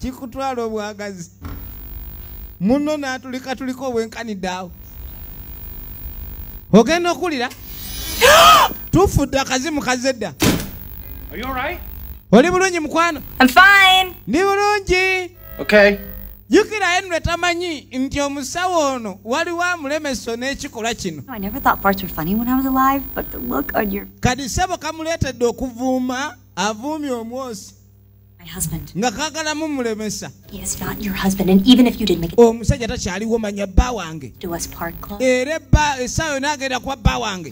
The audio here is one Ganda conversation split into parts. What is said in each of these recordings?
kikutwala obwagazi muno natulika tuliko obwenkanidde awo ogenda okuwulira tufudde akazimu kazze dda oli bulungi mukwano ndi bulungi jukira henry tamanyi nti omusawo ono waliwo amulemeso n'ekikolwa kino kadi sebo kamuleetedde okuvuuma avuumye omwosi nga kagala mumulemesa omusajja takyaliwo manya bba wange era ebba essaawa yona agenda kuba bba wange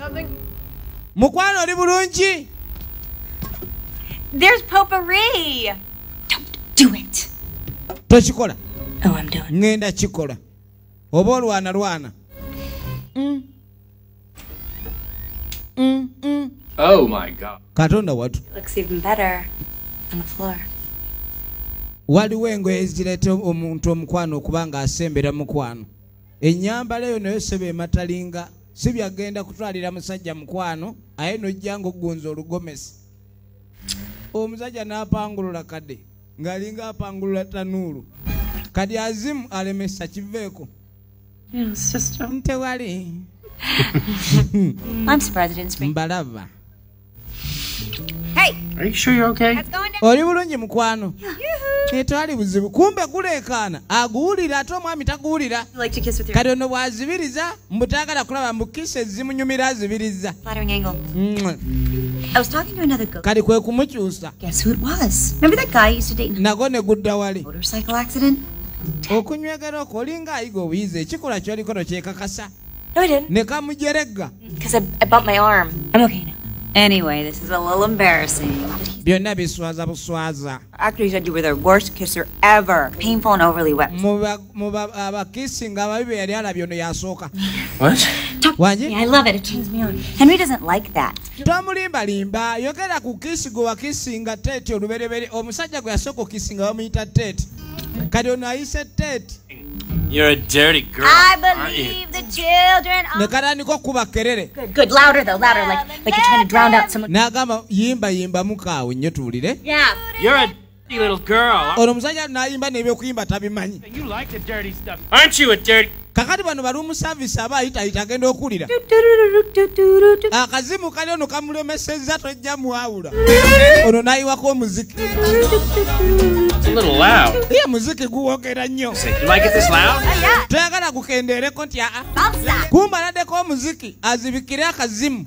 mukwano oli bulungi tokikola oh, ŋŋenda kikola oba olwana lwana mm. Mm, mm. Oh my God. Katonda watu. Looks even better on the floor. Waliwo engoye ezireeta omuntu omukwano okuba ng'asembera mukwano. Ennyambala eyo nayo seba ematalinga si byagenda kutwalira musajja mukwano aye nojja ng'ogunza olugomesi. Omusajja n'apangulula kade ng'alinga apangulula tanuulu. Kadi azimu alemesa kiveeko. tewali mbalaba oli bulungi mukwano etwali buzibu kumbe guleekaana aguwulira ate omwami taguwulira kati ono bwazibiriza mbutagala kulaba mbukisa ezimunyumira azibiriza kati kwe kumukyusa nago ne gudda wali okunywegera okwo olinga ayiga obuyizi ekikola kyoliko nokyekakasa nekamujeregga Anyway, this is a little embarrassing. byonna biswaza buswaza abakisinga ababi be yali alabye ono yasooka wangi Tomulimba limba yogera ku kisi gwe wakisinga tete oluberebere omusajja gwe yasooka okisinga bamuyita tete kati ono ayise tete You're a dirty girl. I believe the children are. Nekaraniko kuba kerere. Good, good. Louder though, louder, like like you're trying to drown out someone. Nagama yimba yimba mukawe nyo tuwulire. Yeah. You're a ono omusajja nayimba nebyokuyimba tabimanyi kakati bano bali omusavisi aba ayitayita agenda okuwulira akazimu kali ono kamulemesezza tojja mwawula ono nayiwako omuziki ye muziki guwogera nnyo toyagala gukendeereko nti aa kumbaladdeko omuziki azibikire akazimu